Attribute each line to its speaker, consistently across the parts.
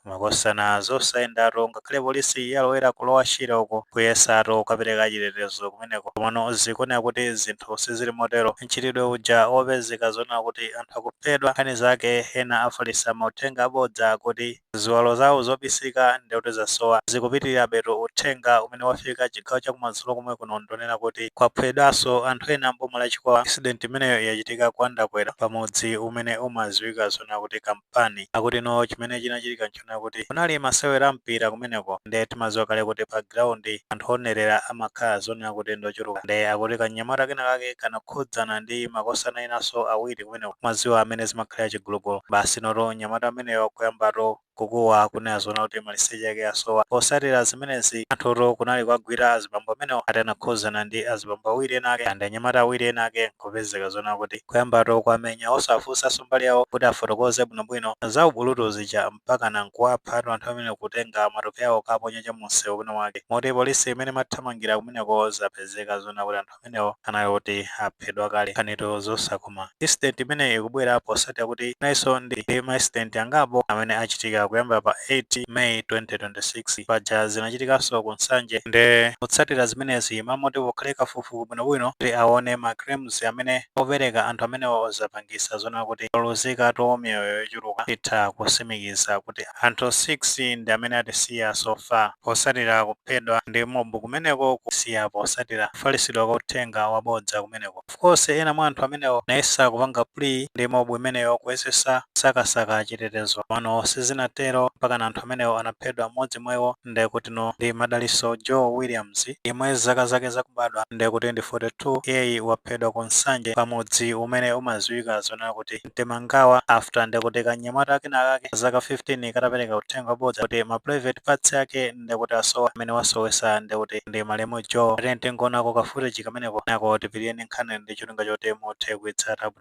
Speaker 1: Makosana zosayendatu ngakhale polisi yalowera ku lower Shire uko kuyesatu kukapereka chitetezo kumeneko komano zikuoneka kuti zinthu sizili motero. Mchitidwe uja wopezeka zonena kuti anthu akuphedwa nkhani zake ena afalitsa mauthenga abodza akuti ziwalo zawo zobisika ndekuti zasowa zikupitirirabetu. Uthenga umene wafika chigawo chakumadzulo komwe kuno ndonena kuti kwaphwedwaso anthu ena m'boma la Chikwawa. Incident imeneyo yachitika kwa Ndakwera pamudzi umene umadziwika zonena kuti Kamp. pani. Akuti no chimene chinachitika nchonena kuti kunali masewera a mpira kumeneko nde timaziwa kale kuti pa ground anthu owonerera amakhala zonena kuti ndi ochuluka nde akuti kanyamata kena kake kanakhudzana ndi makosana enaso awiri kumeneko mmaziwa mmene zimakhalira chigulugulu basi notu mnyamata ameneyo kuyambatu kukuwa kunena zoona kuti maliseche ake asowa. Posatira zimenezi anthutu kunali kuwagwira azibambo amenewo ati anakhuzana ndi azibambo awiri ena ake nde anyamata awiri ena ake. kupezeka zoona kuti kuyambatu kuwamenya osawafunsanso mbali yawo kuti afotokoze bwinobwino za ubulutu zija mpakana nkuwaphatu anthu amene kutenga matupi awo kukaponya cha mumsewu kwina kwake moti polisi mmene imathamangira kumeneko zapezeka zoona kuti anthu amenewo anali oti aphedwa kale nkhanitu zosakoma incident imeneyi ikubwera posatira kuti tinalinso ndi ma incident angapo amene achitika kuyambira pa 8 May 2026 paja zinachitikanso ku Nsanje nde kutsatira zimenezi mmalo moti pakhale kafuku fuku bwinobwino kuti awone ma claims amene apereka anthu amenewo zapangisa zonena kuti paluzikatu miyoyo yochuluka titha kusimikiza kuti anthu 6 ndi amene atisiya so far posatira kuphedwa ndi mob kumeneko kusiya posatira kufalisidwa kwa uthenga wabodza kumeneko of course ena mwa anthu amenewo anayesa kupanga plea ndi mob imeneyo kuyesesa kusakasaka chitetezo komano sizinatero mpakana anthu amenewo anaphedwa mmodzi mwa iwo ndiye kuti no ndi Madalitso Joe Williams yemwe zaka zake zakubadwa ndiye kuti ndi 42 iyeyi waphedwa ku Nsanje pa mudzi umene umadziwika zonena kuti Mtemangawa after ndiye kuti kanyamata kenakake ka zaka 15 katapereka uthenga wabodza kuti ma private parts ake ndiye kuti asowa amene wasowetsa ndiye kuti ndi malemu Joe. Tiyeni tingoonako ka footage kameneko kenako tipitirire ndi nkhani ndi cholinga choti muthe kuitsata bwino.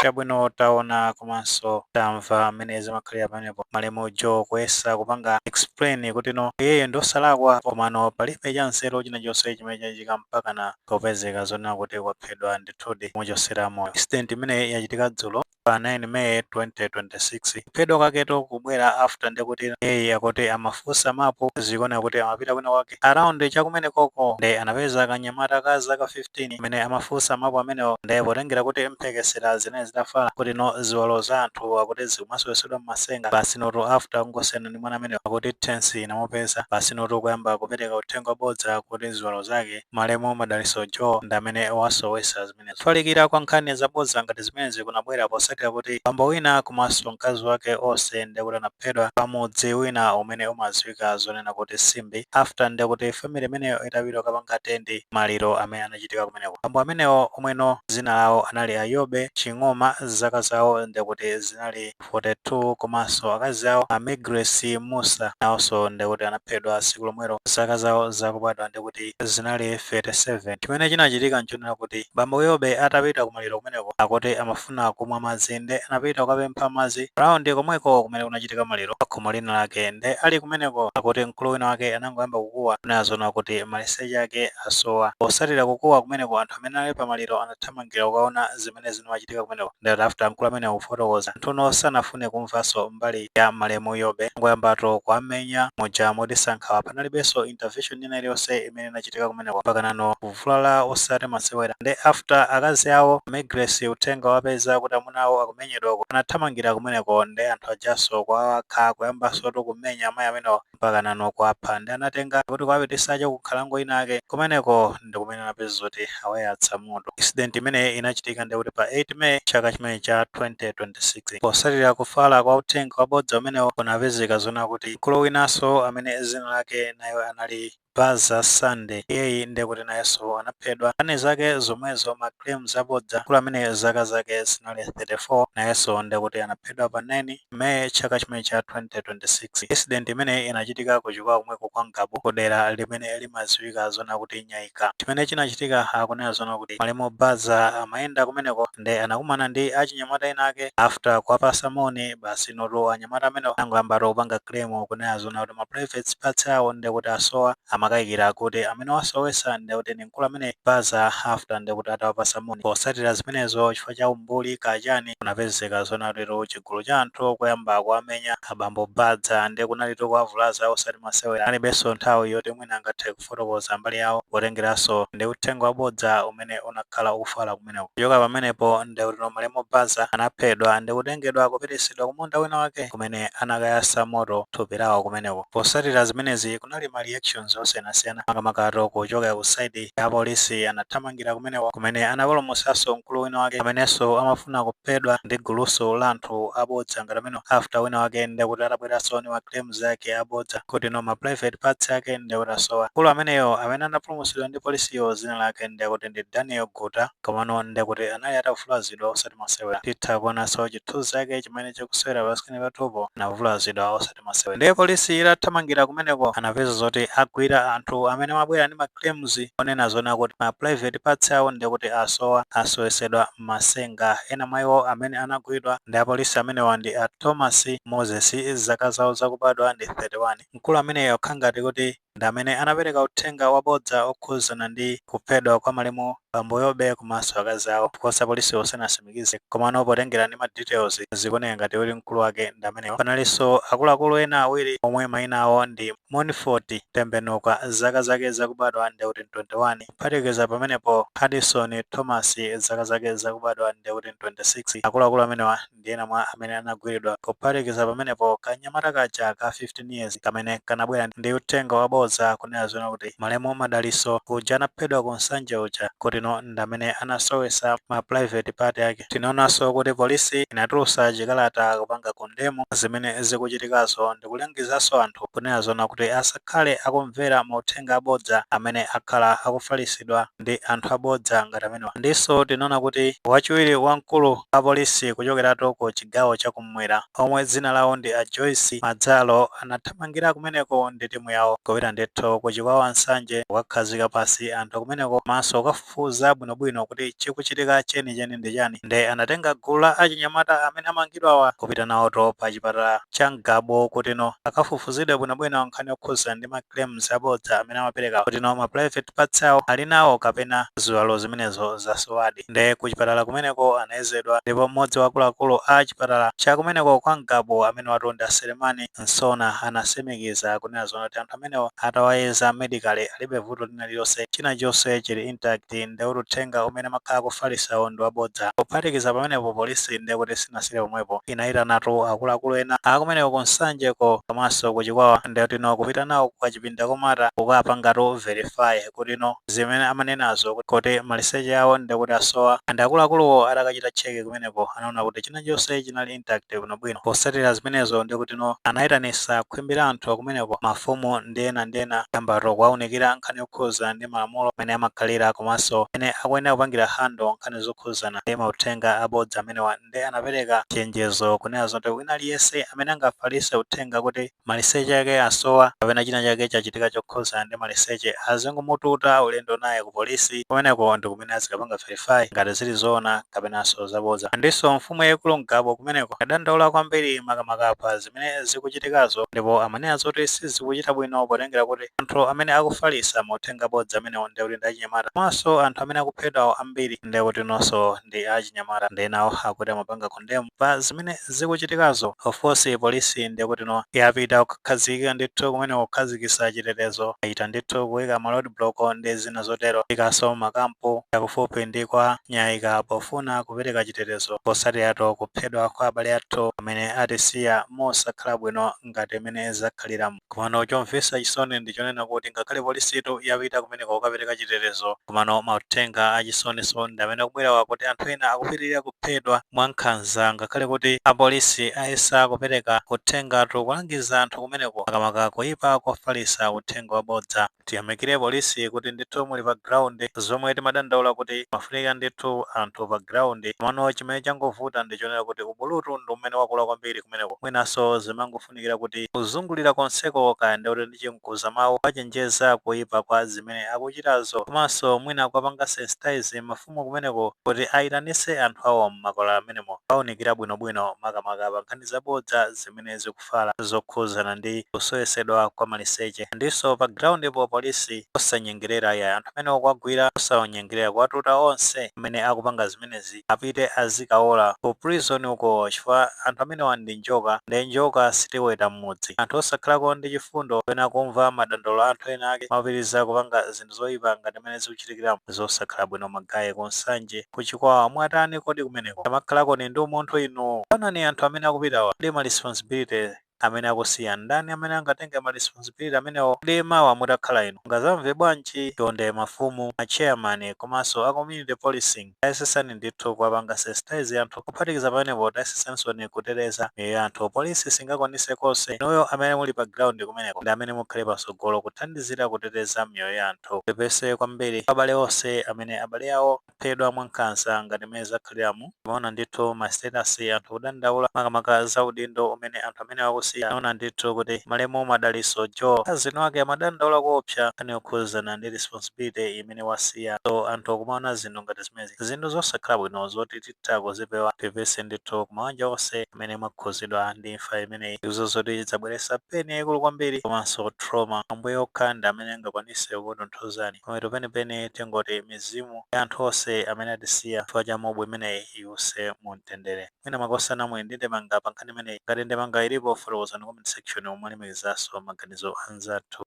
Speaker 1: chabwino taona komanso tamva mmene zimakhalira pa pamenepo malemu Joe kuyesa kupanga explain kuti no iyeyo ndi osalakwa komano palibe cha nzeru china chonse chimene chachitika mpakana kupezeka zonena kuti waphedwa ndithudi kumuchosera moyo. Incident imeneyi yachitika dzulo pa 9 May 2026. Kuphedwa kwaketu kubwera after ndekuti iyeyi akuti amafunsa mapu zikuoneka kuti amapita kwina kwake around cha kumenekoko nde anapeza kanyamata ka zaka 15 amene amafunsa mapu amenewo nde potengera kuti mphekesera zinali zitafala kuti no ziwalo za anthu akuti zikumasowesedwa mmasenga basinotu after kungosiyana ndi mwana ameneyo akuti tension inamupeza basinotu kuyamba kupereka uthenga wabodza kuti ziwalo zake malemu madaliso joe ndi amene wasowesa zimenezo. Kufalikira kwa nkhani zabodza ngati zimenezi kunabwera potsatira kuti bambo wina komanso mkazi wake onse ndiye kuti anaphedwa pa mudzi wina umene umadziwika zoona kuti Simbi after ndiye kuti family imeneyo itapita kukapanga attend maliro amene anachitika kumeneko. Bambo amenewo omweno dzina lawo anali a Yobe Ching'oma, zaka zawo ndiye kuti zinali 42 komanso akazi awo a Migress Musa nawonso ndikuti anaphedwa tsiku lomwelo zaka zawo zakubadwa ndikuti zinali 37. Chimene chinachitika nchonena kuti bambo Yobe atapita kumaliro kumeneko akuti amafuna kumwa madzi nde anapita kukapempha madzi around komweko kumene kunachitika maliro pakhomo lina lake nde ali kumeneko akuti mkulu wina wake anangoyamba kukuwa kunena zoona kuti maliseche ake asowa. Potsatira kukuwa kumeneko anthu amene anali pa maliro anathamangira kukaona zimene zinkachitika kumeneko ndiye ati after mkulu ameneyo kufotokoza anthuno sanafune kumvanso mbali ya malemu Yobe anangoyambatu kuwamenya muja moti sankathawa panalibenso intervention ina iliyonse imene inachitika kumeneko mpakanano kuvulalatu osati masewera nde after akazi awo a Migress uthenga utawapeza kuti amuna awo akumenyedwa uko anathamangira kumeneko nde anthu ajanso kuwawakha kuyambansotu kumenya amayi amenewa mpakanano kuwapha nde anawatenga kuti kuwapititsa cha kunkhalango inake kumeneko ndi kumene anapeza zoti awayatsa moto incident imene inachitika ndiye kuti pa 8 May chaka chimene cha 2026 potsatira kufala kwa uthenga wabodza umenewo kunapezeka zoona kuti mkulu winanso amene dzina lake nayo anali Baza Sunday iyeyi nde kuti nayenso anaphedwa nkhani zake zomwezo ma claims abodza mkulu amene zaka zake zinali 34 nayenso nde kuti anaphedwa pa 9 may chaka chimene cha 2026 incident imeneyi inachitika ku chikwawa komweko kwa ngabu ku dera limene limadziwika zoona kuti nyaika chimene chinachitika akunena zoona kuti malemu baza amayenda kumeneko nde anakumana ndi achinyamata ena ake after kuwapatsa moni basinotu anyamata amenewa anangoyambatu kupanga claim kunena zoona kuti ma private parts awo ndekuti asowa amakayikira kuti amene wasowesa ndekuti ndi mkulu amene baza after ndekuti atawapatsa moni potsatira zimenezo chifukwa cha umbuli kachani kunapezeka zoona kutitu chigulu cha anthu kuyamba kuwamenya abambo baza nde kunalitu kuwavulaza osati masewera analibenso nthawi yoti mwina angathe kufotokoza mbali yawo potengeranso ndi uthenga wabodza umene unakhala ukufala kumeneko. Kuchoka pamenepo, ndekutino malemu Baza anaphedwa ndi kutengedwa kupititsidwa kumunda wina wake kumene anakayatsa moto thupi lawo kumeneko. Potsatira zimenezi kunali ma reactions osiyanasiyana makamakatu kuchokera ku side ya apolisi anathamangira kumeneko kumene anapulumutsanso mkulu wina wake amenenso amafuna kuphedwa ndi gulunso la anthu abodza ngati amenewa after wina wake ndekuti atabweranso ndi ma claims ma claims ake abodza kuti no ma private parts ake nde kuti asowa. Mkulu ameneyo amene anapulumutsidwa ndi polisiyo zina lake nde kuti ndi Daniel Guta komano nde kuti anali atavulazidwa osati masewera. Titha kuonanso chithunzi chake chimene chikusewera pa screen pathupo anavulazidwa osati masewera. Nde polisi itathamangira kumeneko anapeza zoti agwira anthu amene amabwera ndi ma claims onena zoona kuti ma private parts awo nde kuti asowa, asowesedwa. Mwamatsenga. Ena mwa iwo amene anagwidwa ndi apolisi amenewa ndi a Thomas Moses zaka zawo zakubadwa ndi 31. Mkulu ameneyo akukhala ngati kuti ndi amene anapereka uthenga wabodza okhuzana ndi kuphedwa kwa malemu bambo Yobe komanso akazi awo because apolisiwo sanasimikize komano potengera ndi ma details zikuoneka ngati kuti mkulu wake ndi ameneyo. Panalinso akuluakulu ena awiri omwe maina awo ndi Monfort Tembenuka zaka zake zakubadwa nde kuti ndi 21. Kuphatikiza pamenepo, Hudson Thomas, zaka zake zakubadwa ndiye kuti 26, akuluakulu amenewa ndi ena mwa amene anagwiridwa. Kuphatikiza pamenepo, kanyamata kaja ka 15 years kamene kanabwera ndi uthenga wabodza kunena zoona kuti malemu Madalitso uja anaphedwa ku Nsanje uja, kutino ndamene anasowetsa ma private part ake. Tinaonanso kuti police inatulutsa chikalata kupanga condemn zimene zikuchitikazo ndikulangizanso anthu kunena zoona kuti asa. asakhale akumvera mauthenga abodza amene akhala akufalitsidwa ndi anthu abodza ngati amenewa. Ndinso tinaona kuti wachiwiri wa mkulu wa polisi kuchokeratu ku chigawo cha kummwera omwe dzina lawo ndi a Joyce Madzalo anathamangira kumeneko ndi timu yawo kupita ndithu ku Chikwawa Nsanje kukakhazika pansi anthu akumeneko komanso kukafufuza kufufuza bwinobwino kuti chikuchitika chenicheni ndi chani nde anatenga gulu la achinyamata amene amangidwawa kupita nawoto pa chipatala cha Ngabu kutino akafufuzidwe bwinobwino nkhani yokhuzana ndi ma claims abodza amene amaperekawa kutino ma private parts awo ali nawo kapena ziwalo zimenezo zasowadi nde ku chipatala kumeneko anayezedwa ndipo mmodzi wa akuluakulu a chipatala cha kumeneko kwa Ngabu amenewatu ndi a Selemani Nsona anasimikiza kunena zoona kuti anthu amenewo atawayeza medically alibe vuto lina lililonse china chonse chili intact nde kuti uthenga umene amakhala akufalisawo ndi wabodza. Kuphatikiza pamenepo police nde kuti sinasile pomwepo inayitanatu akuluakulu ena akumeneko ku Nsanje ko komanso ku Chikwawa nde kuti no kupita nawo ku kachipinda komata kukapangatu verify kuti no zimene amanenazo kuti maliseche awo nde kuti asowa and akuluakuluwo atakachita check kumeneko anaona kuti china chonse chinali intact bwinobwino. Potsatira zimenezo ndiye kuti no anayitanisa khwimbi la anthu akumeneko, mafumu ndi ena ndi ena kuyambato kuwaunikira nkhani yokhuzana ndi malamulo mmene amakhalira komanso mmene akuyenera kupangira handle nkhani zokhuzana ndi mauthenga abodza amenewa nde anapereka chenjezo kunena zoti wina aliyense amene angafalitse uthenga kuti maliseche ake asowa kapena china chake chachitika chokhudzana ndi maliseche azingomututa ulendo naye ku polisi kumeneko ndi kumene azikapanga verify ngati zili zoona kapenanso zabodza. Ndinso mfumu yaikulu Ngabu kumeneko yadandaula kwambiri makamaka pa zimene zikuchitikazo ndipo amanena zoti sizikuchita bwino potengera kuti anthu amene akufalitsa mauthenga abodza amenewo ndekuti ndi achinyamata komanso anthu amene akuphedwawo ambiri ndekutinonso ndi achinyamata ndiye nawo akuti amapanga condemn pa zimene zikuchitikazo of course police ndekutino yapita kukhazikika ndithu kumene kukhazikisa chitetezo achita ndithu kuika ma road block ndi zina zotero kukhazikitsa makampu yakufupi ndi kwa nyaika pofuna kupereka chitetezo posatirato kuphedwa kwa abale athu amene atisiya mosakhala bwino ngati mene zakhaliramu. Komano chomvesa chisoni ndi chonena kuti ngakhale polisitu yapita kumeneko kukapereka chitetezo komano mauthenga achisoninso ndi amene akubwerawa kuti anthu ena akupitilira kuphedwa mwa nkhanza ngakhale kuti apolisi ayesa kupereka uthengatu kulangiza anthu kumeneko makamaka kuyipa kofalisa uthenga wabodza. Tiyamikire police kuti ndithu muli pa ground, zomwe timadandaula kuti mafunika ndithu anthu pa ground, komano chimene changovuta ndi chonena kuti ubulutu ndi umene wakula kwambiri kumeneko, mwinanso zimangofunikira kuti kuzungulira konseko kaya ndi oti ndi chimkuza mawu kuwachenjeza kuipa kwa zimene akuchitazo, komanso mwina kuwapanga sensitize mafumu kumeneko kuti ayitanitse anthu awo m'makwalala m'menemo kuwaunikira bwinobwino makamaka pa nkhani zabodza zimene zikufu. fala zokhudzana ndi kusowesedwa kwa maliseche ndinso pa groundpo police osanyengelera yayi anthu amene akuwagwira osawanyengelera kuwatuta onse amene akupanga zimenezi apite azikawola ku prison uko chifukwa anthu amenewa ndi njoka nde njoka sitiweta mmudzi anthu osakhalako ndi chifundo kapena kumva madandaulo a anthu ena ake mwapitiliza kupanga zinthu zoipa ngati mene zikuchitikiramu zosakhala bwino magaye ku nsanje ku chikwawa mwatani kodi kumeneko tamakhalakoni ndi umunthu inu taonani anthu amene akupitawa kodi ma responsibility amene akusiya ndani amene angatenge ma responsibility amenewo kodi mawa mutakhala inu mungazamve bwanji chonde mafumu a chairman komanso a community policing Tayesetsani ndithu kuwapanga sensitize anthu, kuphatikiza pamenepo tayesetsansoni kuteteza miyoyo ya anthu. Police singakwanise konse. Inuyo amene muli pa ground kumeneko ndi amene mukhale patsogolo kuthandizira kuteteza miyoyo ya anthu. Tipepese kwambiri kwa abale onse amene abale awo aphedwa mwa nkhanza ngati mmene zakhaliramu. Timaona ndithu ma status anthu kudandaula makamaka za udindo umene anthu amenewa akusiya. Tinaona ndithu kuti malemu Madalitso Joe cousin wake amadandaula koopsa nkhani yokhuzana ndi responsibility im. imene wasiya so anthu akumaona zinthu ngati zimenezi zinthu zosakhala bwino zoti titha kuzipewa pepese ndithu kumawanja onse amene mwakhuzidwa ndi imfa imeneyi ndizo zoti zabweresa pain yaikulu kwambiri komanso trauma ambuye okha ndi amene angakwanise kukutonthozani pamapeto penipeni tingoti mizimu ya anthu onse amene atisiya chifukwa cha mob imeneyi iuse mumtendere mwina makosana namwe ndi ndemanga pankhani imeneyi ngati ndemanga ilipo fotokozani comment section momwe alimbikizanso maganizo anzathu.